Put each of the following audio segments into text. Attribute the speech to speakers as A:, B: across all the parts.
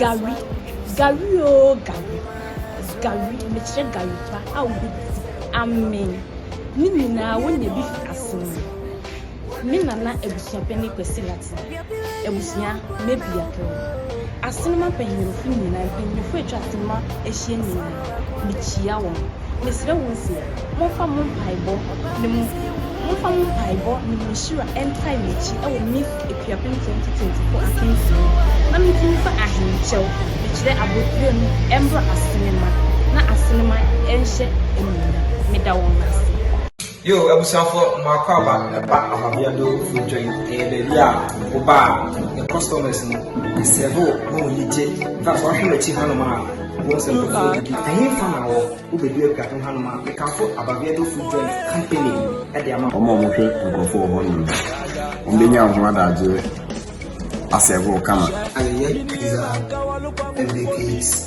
A: Gari, gari oo gari, gari, mekyerɛ gari pa a wobɛdi amee. Ne nyinaa wonya bi fi asene. Me nana abusua pɛ ne Kwasi Latin, abusua Mabia pɛ. Asenema mpanyinfo nyinaa, mpanyinfo atwa asenema ahyia nyinaa. Mikyia wɔn. Mesrɛ wɔn se, Momfa mo mpaebɔ ne mo Momfa mo mpaebɔ ne mo nhyira ntae m'akyi wɔ me akuapem nketenkete-nkefo akansie mu, na mentumi mfa ahenkyɛw, mekyerɛ abotire no, mmra Asenema, na Asenema nhyɛ anuonyam. Meda wɔn ase. Yoo
B: abusuafoɔ mo akwaaba ɛba Ahwabiado Fodwɛn ɛyɛ baabi a woba a ne customers no ɛsɛve wo ma wɔn ani gye infact wahwɛ m'akyi hanom a wobɛhu sɛ nkurɔfoɔ didi ɛhefa na wɔ wobɛdu apueafe hanom a mekamfo Ahwabiado Fodwɛn company ɛde ama wɔn a wɔhwɛ nkurɔfoɔ wɔ hɔnom no wɔbɛnya wo ho adagyeɛ asɛve wo kama. Ayɛyɛ pizza and bakes.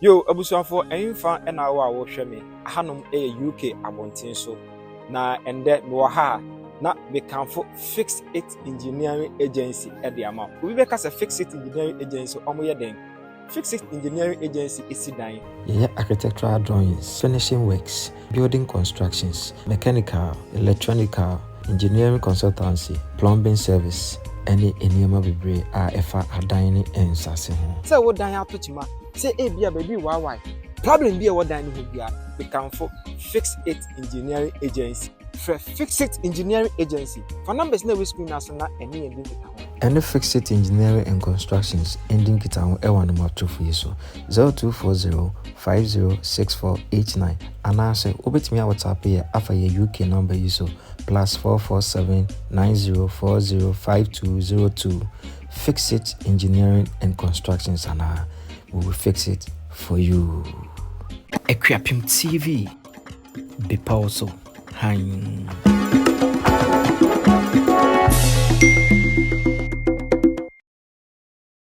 C: Yo abusuafoɔ ɛnfa na wo a wohwɛ me ahanom yɛ UK abɔnten so na ɛndɛ mewɔ ha a na mekamfo Fix It Engineering Agency de ama wo. Obi bɛka sɛ Fix It Engineering Agency wɔn yɛ dɛn? Fix It Engineering Agency si dan. Yɛyɛ architectural
D: drawings, finishing works, building constructions, mechanical, electronical, engineering consultancy, plumbing service, ne nneɛma bebree a ɛfa adan ne nsase ho. Sɛ wo dan ato kyema,
C: sɛ ebia baabi rewaawae, problem bi a ɛwɔ dan no ho biara, mekamfo Fix It Engineering Agency. Frɛ Fix It Engineering Agency. Fa numbers no a ɛwɔ screen no ara so na ɛne yɛn di nkitaho. Ɛne Fix It
D: Engineering and Constructions ndi nkitaho wɔ anamɔtofo yi so. 0240506489 anaase wobɛtumi a whatsapp yɛ afa yɛ UK number yi so plus 44790405202 Fix it engineering and constructions anaa we will fix it for you. Akuapem TV bepɔw so hann.